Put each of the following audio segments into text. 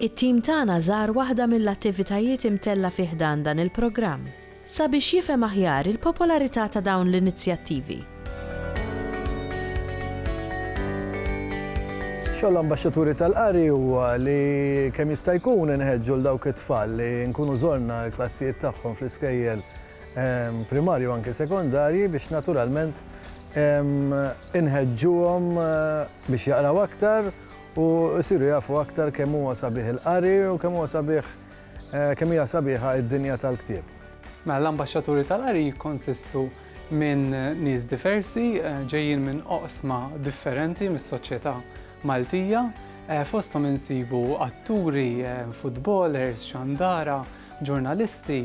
It-tim tagħna żar waħda mill-attivitajiet imtella fi ħdan dan il-programm sabiex jifhem aħjar il-popolarità ta' dawn l-inizjattivi. Xogħol l-Ambaxxaturi tal-Qari huwa li kemm jista' jkun inħeġġu 'l dawk it-tfal li nkunu żorna l-klassijiet tagħhom fl-iskejjel primarji u anke sekondarji biex naturalment inħeġġuhom biex jaqraw aktar, u jsiru jafu aktar kemm huwa sabiħ il-qari u kemm huwa sabiħ, kemm hija sabiħa d-dinja tal-ktieb. Mela l-Ambaxxaturi tal-Qari jikkonsistu minn nies diversi, ġejjin minn oqsma differenti mis-soċjetà Maltija. Fosthom insibu atturi, futbolers, xandara, ġurnalisti,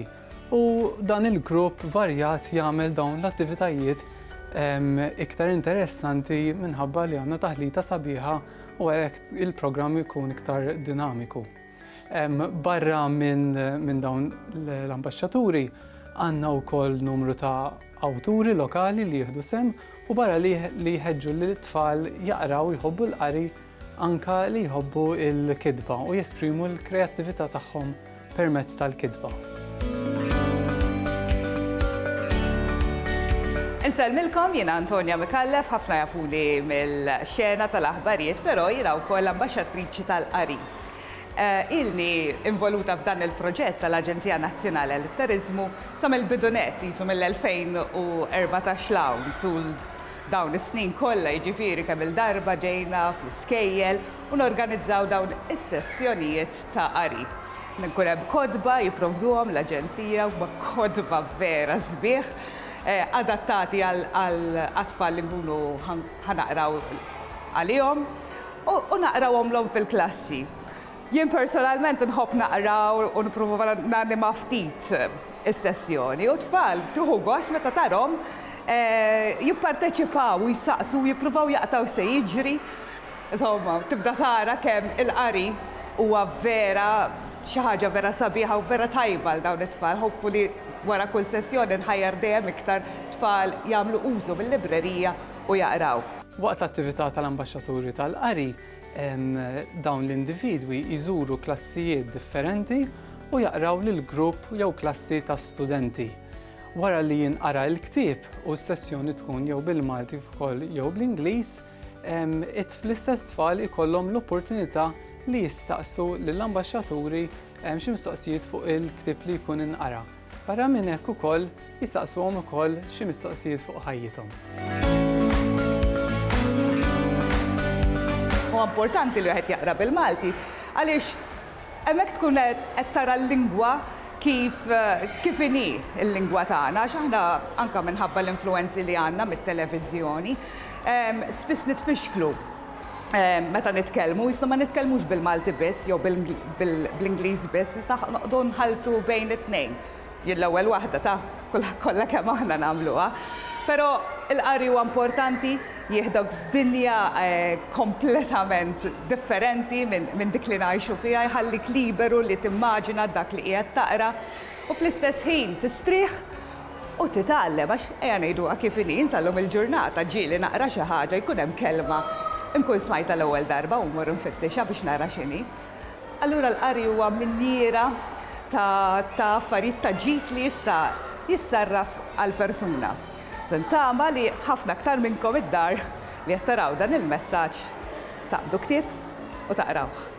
U dan il-grupp varjat jagħmel dawn l-attivitajiet iktar interessanti minħabba li għandna taħlita sabiħa u għalhekk il-programm ikun iktar dinamiku. Barra minn dawn l-ambasċaturi għandna wkoll numru ta' awturi lokali li jieħdu sem u barra li jħeġġu li t-tfal jaqraw jħobbu l-qari anka li jħobbu l-kidba u jesprimu l-kreattività tagħhom permezz tal-kitba. Insellmilkom jiena Antonia Micallef, ħafna jafuni mill-xena tal-aħbarijiet, però jiena wkoll ambaxxatriċi tal-qari. Eh, ilni involuta f'dan il-proġett tal-Aġenzija Nazzjonali għal turizmu sa mill-bidunet jisu mill-2014 lawn tul dawn is-snin kollha jiġifieri kemm il-darba ġejna fl-iskejjel u norganizzaw dawn is-sessjonijiet ta' qari. Ikun hemm kotba jipprovduhom l-Aġenzija, huma kotba vera sbieħ, adattati għall-atfal li nkunu ħa naqraw għalihom u naqrawhomlhom fil-klassi. Jien personalment inħobb naqra u nipprova nanima ftit is-sessjoni u t-tfal tieħu gost meta tarahom jipparteċipaw u jsaqsu u jippruvaw jaqtgħu x'se jiġri. Insomma, tibda tara kemm il-qari huwa vera xi ħaġa vera sabiħa u vera tajba għal dawn it-tfal. Hopefully wara kull sessjoni nħajjar dejjem iktar tfal jagħmlu użu mil-librerija u jaqraw. Waqt l-attività tal-Ambaxxaturi tal-Qari, dawn l-individwi jżuru klassijiet differenti u jaqraw lil grupp jew klassi ta' studenti. Wara li jinqara l-ktieb u s-sessjoni tkun jew bil-Malti kif ukoll jew bl-Ingliż, L-istess tfal ikollhom l-opportunità li jistaqsu lill-ambaxxaturi xi mistoqsijiet fuq il-ktieb li jkun inqara. Barra minn hekk ukoll jistaqsuhom ukoll xi mistoqsijiet fuq ħajjithom. Huwa importanti li wieħed jaqra bil-Malti għaliex Hemmhekk tkun qed tara l-lingwa kif kif inhi l-lingwa tagħna għax aħna anke minħabba l-influwenzi li għandna mit-televiżjoni spiss nitfixklu meta nitkellmu, jisna ma nitkellmux bil-Malti biss jew bl-Ingliż biss, jisna noqogħdu nħalltu bejn it-tnejn. Jien l-ewwel waħda ta', kollha kemm aħna nagħmluha. Però l-qari huwa importanti, jieħdok f'dinja kompletament differenti minn dik li ngħixu fiha, jħallik liberu li timmaġina dak li qiegħed taqra u fl-istess ħin tistrieħ u titgħallem għax ejja ngħiduha kif inhi, jien sal-lum il-ġurnata ġieli naqra xi ħaġa jkun hemm kelma nkun smajtha l-ewwel darba u mmur infittixha biex nara x'inhi. Allura l-qari huwa minjiera ta' ta' affarijiet ta' ġid li jista' jissarraf għall-persuna. So ntama li ħafna aktar minnkom id-dar li qed taraw dan il-messaġġ taqbdu ktieb u taqrawh.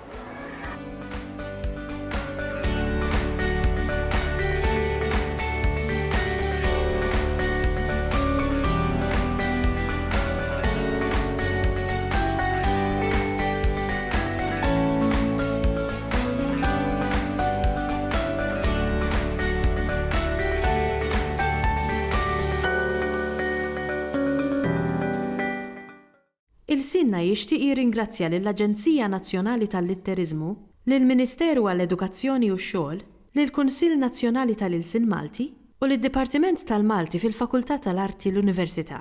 Ilsienna jixtieq jirringrazzja lill-Aġenzija Nazzjonali tal-Litteriżmu, lill-Ministeru għall-Edukazzjoni u x-Xogħol, lill-Kunsill Nazzjonali tal-Ilsien Malti u lid-Dipartiment tal-Malti fil-Fakultà tal-Arti l-Università.